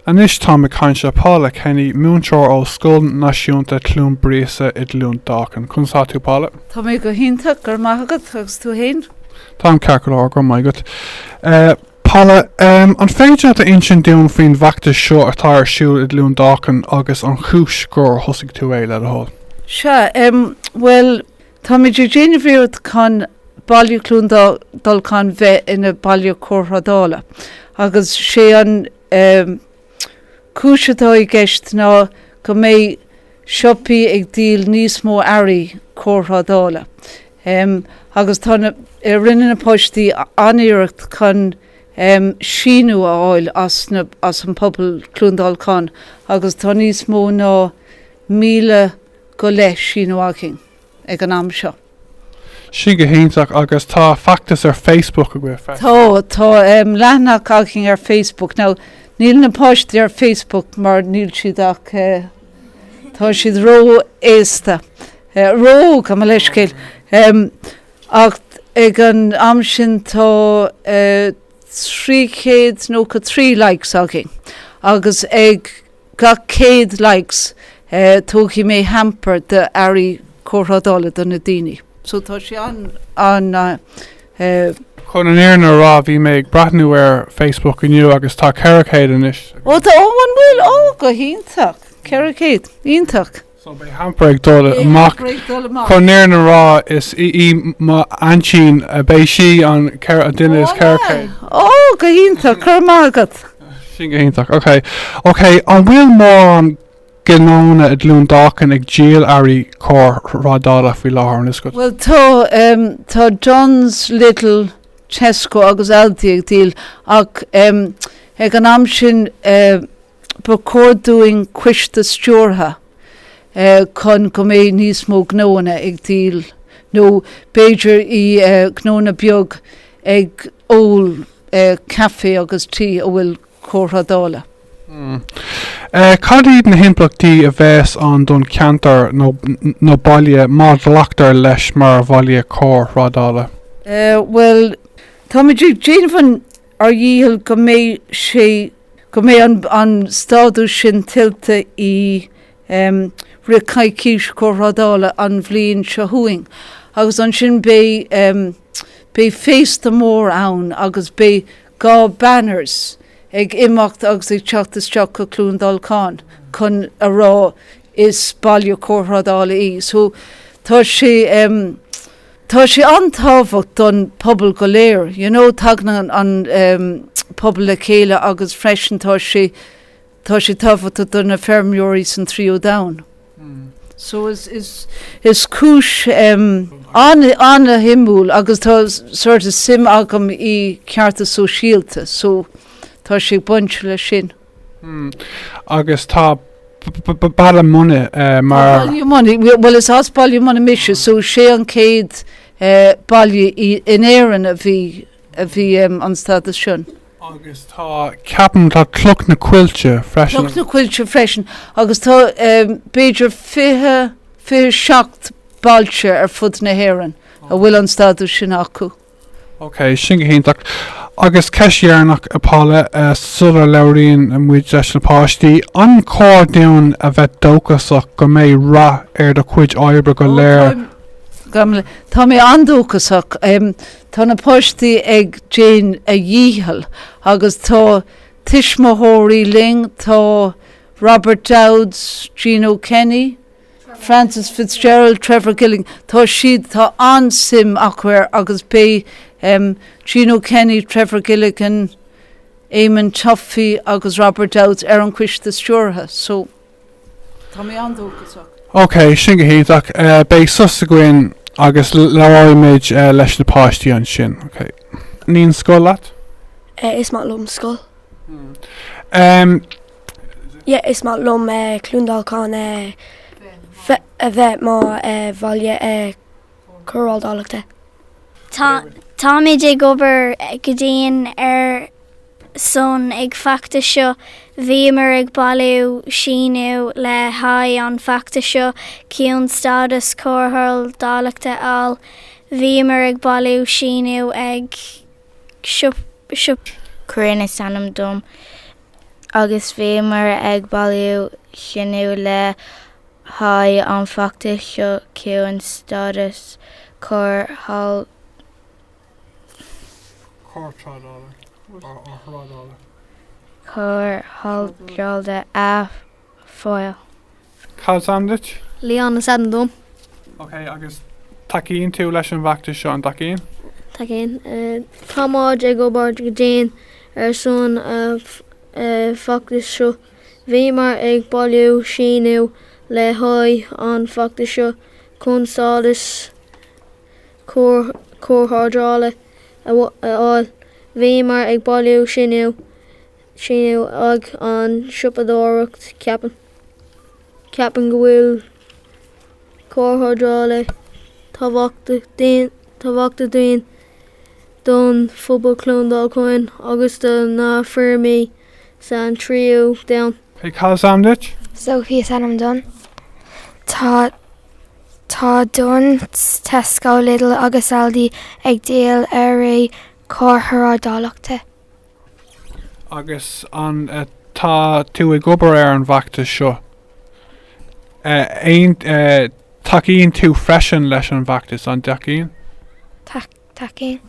Anois táim ag caint le Paula Kenny, múinteoir ó Scoil Náisiúnta Chluain Buiríosa i gCluain Dolcain. Conas atá tú, Paula? Tá mé go hiontach, go raibh maith agat, agus tú fhéin? Táim ceart go leor, go raibh maith agat. Paula, an féidir leat a insint dúinn faoin bhfeachtas seo atá ar siúl i gCluain Dolcain agus an chúis gur thosaigh tú é, le do thoil? Sea, bhuel, Táimid ag déanamh iarracht chun Baile Chluain Dolcáin bheith ina Baile Cóirthrádála agus sé an cúis atá i gceist ná go mbeidh siopaí ag díol níos mó earraí cóirthrádála agus tá rinne na Páistí an-iarracht chun síniú a fháil as an pobal Cluain Dolcáin agus tá níos mó ná míle go leith síniú againn ag an am seo. Sin go hiontach agus tá feachtas ar Facebook agaibh freisin. Tá, tá leathanach againn ar Facebook. Now níl na páistí ar Facebook mar níl siad ach tá siad ró-aosta, ró-óg, gabh mo leithscéal. Ach ag an am sin tá trí chéad nócha trí likes againn agus ag Gach 100 likes tógfaidh mé hamper de earraí cóirthrádála do na daoine. So tá sé an. Chun an fhírinne a rá bhí mé ag breathnú ar Facebook inniu agus tá 400 anois. Ó tá ó an bhfuil? Ó go hiontach. 400. Iontach. So beidh hamper ag dul amach chun an fhírinne a rá is í mo aintín. Beidh sí an duine is ceithre chéad. Ó go hiontach! Go raibh maith agat. Sin go hiontach. Ok. Ok an bhfuil mórán gnónna i gCluain Dolcáin ag díol earraí cóirthrádála faoi láthair an bhfuil a fhios agat? Bhuel tá tá Dunnes, Lidl, Tesco agus Aldi ag díol ach ag an am sin Ba chóir dúinn coiste stiúrtha chun go mbeidh níos mó gnóanna ag díol nó b'fhéidir i gnóanna beag ag ól caife agus tí a bhfuil cóirthrádála. Hm. Cad iad na himpleachtaí a bheas ann don ceantar nó baile má ghlactar leis mar bhaile cóirthrádála? Bhuel, táimid ag déanamh an ár dhícheall go mbeidh sé, go mbeidh an, an stádas sin tuillte i em. rith coicís Chóirthrádála an bhliain seo chugainn agus ansin beidh em. beidh féasta mór ann agus beidh dhá banners ag imeacht agus ag teacht isteach go Cluain Dolcáin chun a rá is Baile Cóirthrádála í. So tá sé em. Tá sé an-tábhacht don pobal go léir. You know, tagann an ehm pobal le chéile agus freisin tá sé tá sé tábhachtach do na feirmeoirí san Tríú Domhan. So is is is cúis ehm an an-shuimiúil agus tá sort of suim agam i ceartas sóisialta so tá sé ag baint le sin. Agus tá Baile Munna mar. Baile Munna, bhuel is as Baile Munna mise so sé an céad baile in Éirinn a bhí a bhí an stádas sin. Agus tá ceapaim tá Cloch na Coillte freisin. Cloch na Coillte freisin agus tá b'fhéidir fiche fiche seacht bailte ar fud na hÉireann a bhfuil an stádas sin acu. Ok, sin go hiontach. Agus ceist dheireanach, a Paula, sular labhraíonn muid leis na páistí, an cóir dúinn a bheith dóchasach go mbeidh rath ar do chuid oibre go léir? Tá mé an-dóchasach. Tá na páistí ag déanamh a dhícheall agus tá tuismitheoirí linn, tá Robert Dowds, Gino Kenny, Frances Fitzgerald, Trevor Gilligan, tá siad, tá an-suim acu air agus beidh em Gino Kenny, Trevor Gilligan, Eamon Tuffy agus Robert Dowds ar an Coiste Stiúrtha so tá mé an-dóchasach. Ok, sin go hiontach. Eh beidh sos againn agus labhróimid leis na páistí ansin, ok. Taitníonn scoil leat? Eh is maith liom scoil. Em yeah is maith liom eh Cluain Dolcáin eh a bheith mar eh bhaile eh Cóirthrádála. Tá táimid ag obair go dian ar son ag feachtas seo bhíomar ag bailiú síniú le haghaidh an feachtas seo chun stádas Cóirthrádála a fháil bhíomar ag bailiú síniú ag siopa Caireann is ainm dom. agus bhíomar ag bailiú síniú le haghaidh an feachtais seo chun stádas Cóirthrádála a. fáil. Cad 's ainm duit? Leon is ainm dom. Ok, agus tacaíonn tú leis an bhfeachtas seo, an dtacaíonn? Tacaíonn. Táimid ag obair go dian ar son an feachtais seo. Bhíomar ag bailiú síniú le haghaidh an feachtais seo chun stádas cóirthrádála a fháil. Bhíomar ag bailiú síniú Sin iad ag an siopadóireacht ceapaim. Ceapaim go bhfuil Cóir Thrádála tábhachtach dúinn don phobal Cluain Dolcáin agus do na feirmí san tríú domhan. Hey cad is ainm duit? Sophie is ainm dom. Tá tá Dunnes, Tesco, Lidl agus Aldi ag díol earraí Cóir Thrádála. Agus tá tú ag obair ar an bhfeachtas seo? Tacaíonn tú freisin leis an bhfeachtas, an dtacaíonn? Tacaíonn.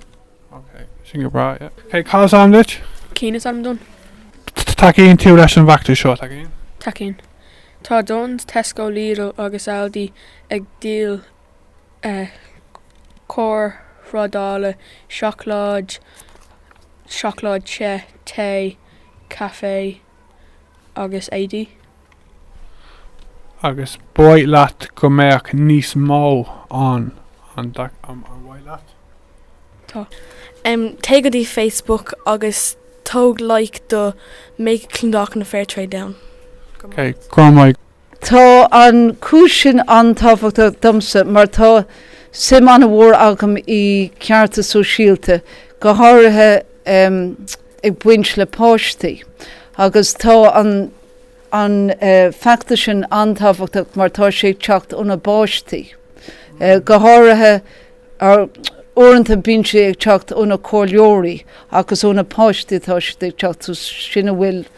Ok, sin go breá. Ok, cad is ainm duit? Cian is ainm dom. Tacaíonn tú leis an bhfeachtas seo, tacaíonn? Tacaíonn. Tá Dunnes, Tesco, Lidl agus Aldi ag díol. cóir thrádála, seacláid, seacláid te, caife agus éadaí. Agus ba mhaith leat go mbeadh níos mó ann, ar mhaith leat? Tá. Téigh go dtí Facebook agus tabhair like do Make Clondalkin a Fair Trade Town. Grma. Tá an cúis sin an-tábhachtach domsa mar tá suim an-mhór agam i gcearta sóisialta, go háirithe ag baint le páistí. Agus tá an an feachtas sin an-tábhachtach mar tá sé ag teacht ó na bpáistí. Go háirithe, uaireanta bíonn sé ag teacht ó na comhairleoirí ach is ó na páistí atá siad ag teacht so sin a bhfuil an